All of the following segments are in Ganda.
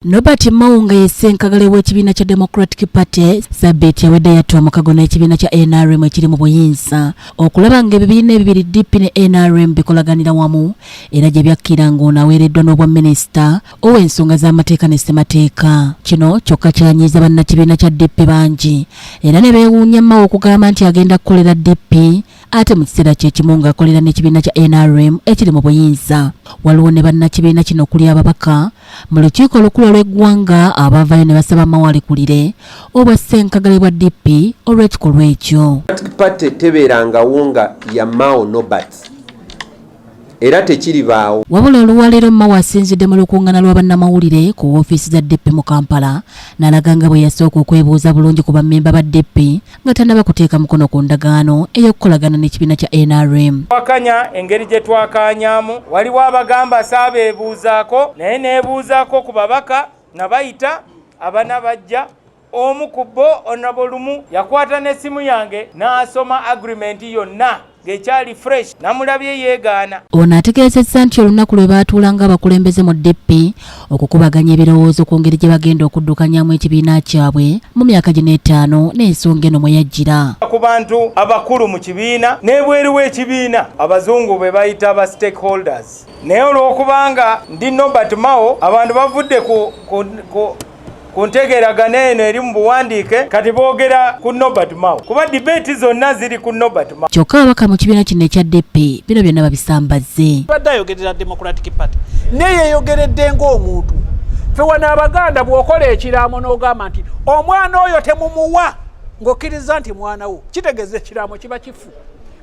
Nobert Mao nga ye ssenkagale w'ekibiina kya Democratic Party sabbiiti ewedde yatta omukago n'ekibiina kya NRM ekiri mu buyinza okulaba ng'ebibiina ebibiri DP ne NRM bikolaganira wamu era gye byakkira ng'ono aweereddwa n'obwa minisita ow'ensonga z'amateeka ne ssemateeka. Kino kyokka kyanyiiza bannakibiina kya DP bangi era ne beewuunya Mao okugamba nti agenda kukolera DP ate mu kiseera kye kimu ng'akolera n'ekibiina kya nrm ekiri mu buyinza waliwo ne bannakibiina kino okuli ababaka mu lukiiko olukulu olw'eggwanga abaavayo ne basaba mawalikulire obwa ssenkagale bwa dp olw'ekikolwa ekyo pate tebeerangawo nga ya mao nobert era tekiribaawo. Wabula oluwalero Mao asinzidde mu lukungana lwa bannamawulire ku wofiisi za DP mu Kampala nalaga nga bwe yasooka okwebuuza bulungi ku bammemba ba DP nga tanaba kuteeka mukono ku ndagaano ey'okukolagana n'ekibiina kya NRM. Twakanya engeri gye twakaanyamu, waliwo abagamba saabeebuuzaako naye neebuuzaako ku babaka nga bayita abana bajja omu ku bo onabo lumu yakwata n'essimu yange n'asoma agirimenti yonna ng'ekyali fresh namulabye yeegaana ono ategeezezza nti olunaku lwe baatuula ng'abakulembeze mu dp okukubaganya ebirowoozo ku ngeri gye bagenda okuddukanyamu ekibiina kyabwe mu myaka gino etaano n'ensonga eno mwe yajjira ku bantu abakulu mu kibiina n'ebweru w'ekibiina abazungu be bayita ba stakeholders naye olw'okubanga ndi nobert mao abantu bavudde ku, ku, ku ku ntegeeragana eno eri mu buwandiike kati boogera ku Nobert Mao kuba dibeeti zonna ziri ku Nobert Mao. Kyokka ababaka mu kibiina kino ekya DP bino byonna babisambazze. Badde ayogerera Democratic Party naye yeeyogeredde ng'omuntu. Ffe wano Abaganda bw'okola ekiraamo n'ogamba nti omwana oyo temumuwa ng'okkiriza nti mwana wo kitegeeza ekiraamo kiba kifu.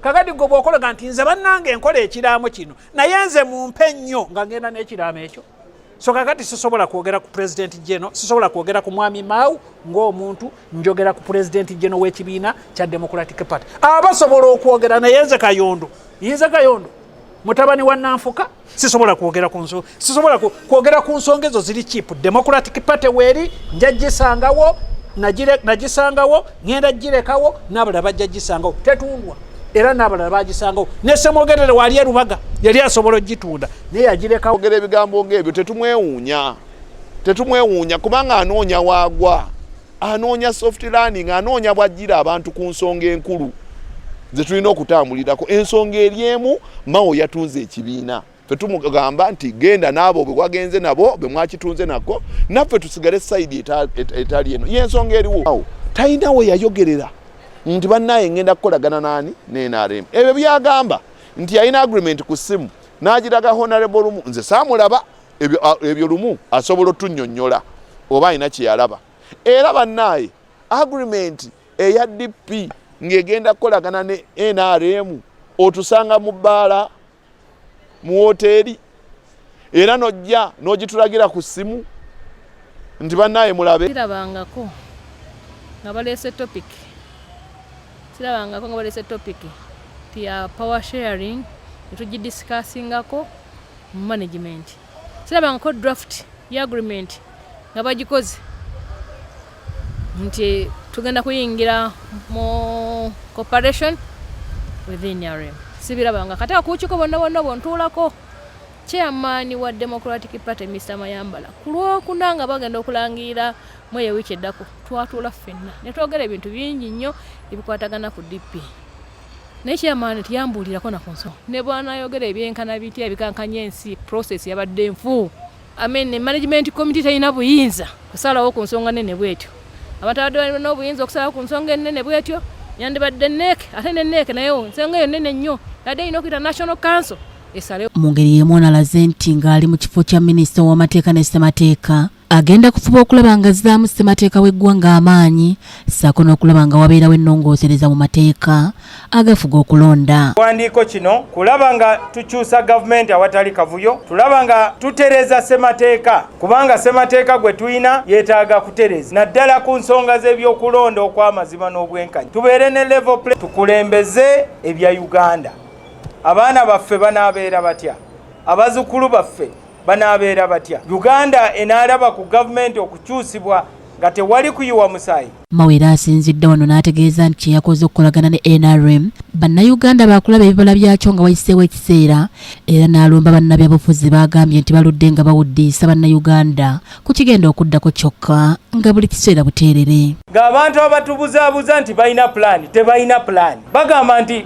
Kakati gwe bw'okolaga nti nze bannange nkola ekiraamo kino naye nze mumpe nnyo nga ngenda n'ekiraamo ekyo. so kakati sisobola kwogera ku president geno sisobola kwogera ku mwami mau ngaomuntu njogera ku president geno wekibiina kya democratic party abasobola okwogera naye nze kayondo yinze kayondo mutabani wa nanfuka sisobola kwogera ku nsonga sisobola kwogera ku nsonga ezo ziri chip democratic party weeri njagisangawo nagisangawo ŋenda girekawo nabalala bajja gisangawo tetundwa era nabalala bagisangawo nesemwogerere wali erubaga yali asobola ogitunda naye yagirekawo ogera ebigambo ngaebyo tetumwewuunya tetumwewuunya kubanga anoonya waagwa anoonya soft learning anoonya bwajjira abantu ku nsonga enkulu zetulina okutambulirako ensonga eri emu mawo yatunze ekibiina ffe tumugamba nti genda n'abo bwe wagenze nabo bwe mwakitunze nako naffe tusigale sayidi etali eno yensonga eriwo awo talina we yayogerera nti bannaye ngenda kukolagana n'ani ne nrm ebyo byagamba nti yalina agreement ku ssimu n'agiraga honorable lumu nze saamulaba ebyo lumu asobola otunyonyola oba alina kyeyalaba era bannaye agreement eya dp ng'egenda kukolagana ne nrm otusanga mu bbaala mu woteeri era nojja n'ogitulagira ku ssimu nti bannaaye mulabe kirabangako nga baleese topic kirabangako nga baleese topic ti ya power sharing etugidisikaasingako mu management sirabangako draft ya agreement nga bagikoze nti tugenda kuyingira mu cooperation within nrm sibirabanga kati akuukiko bonna bonna obontuulako chairman wa democratic party mr mayambala ku lwokuna nga bagenda okulangirira mweyo wiiki eddako twatuula ffenna ne twogera ebintu bingi nnyo ebikwatagana ku dp naye chairman tiyambuulirako na ku nsonga ne bwanayogera ebyenkana bitya ebikankanya ensi process yabadde nfu I mean, management committee terina buyinza kusalawo ku nsonga nene bwetyo abantu abadde balina obuyinza okusalawo ku nsonga enene bwetyo yandibadde neek ate ne neek naye nsonga eyo nene nnyo nadde erina okuyita national council esalewo mu ngeri y'emu onalaze nti ng'ali mu kifo kya minisita w'amateeka ne ssemateeka agenda kufuba okulaba nga zaamu ssemateeka w'eggwanga amaanyi ssaako n'okulaba nga wabeerawo ennongoosereza mu mateeka agafuga okulonda kiwandiiko kino kulaba nga tukyusa gavumenti awatali kavuyo tulaba nga tutereeza ssemateeka kubanga ssemateeka gwe tulina yeetaaga kutereeza naddala ku nsonga z'ebyokulonda okw'amazima n'obwenkanya tubeere ne level play tukulembeze ebya uganda abaana baffe banaabeera batya abazukulu baffe banaabeera batya uganda enaalaba ku gavumenti okukyusibwa nga tewali kuyiwa musaayi mawere asinzidde wano n'ategeeza nti kyeyakoze okukolagana ne nrm bannayuganda baakulaba ebibala byakyo nga wayiseewo ekiseera era n'alumba bannabyabufuzi baagambye nti baludde nga bawuddiisa bannayuganda ku kigenda okuddako kyokka nga buli kiseera buteerere ng'abantu abatubuzaabuza nti balina pulaani tebalina pulaani bagamba nti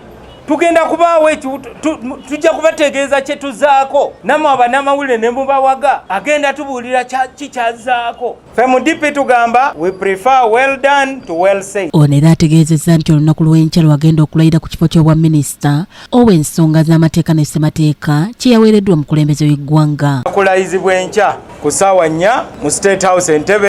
tugenda kubaawo tujja kubategeeza kye tuzaako namwe abanamawulire ne mubawaga agenda tubuulira kikyazaako fe mu dipi tugamba we prefer well done to well said ono era ategeezezza nti olunaku lw'enkya lwagenda okulayira ku kifo ky'obwa minisita owa ensonga z'amateeka ne ssemateeka kye yaweereddwa omukulembeze w'eggwanga kulayizibwa enkya ku ssaawa nnya mu state house entebe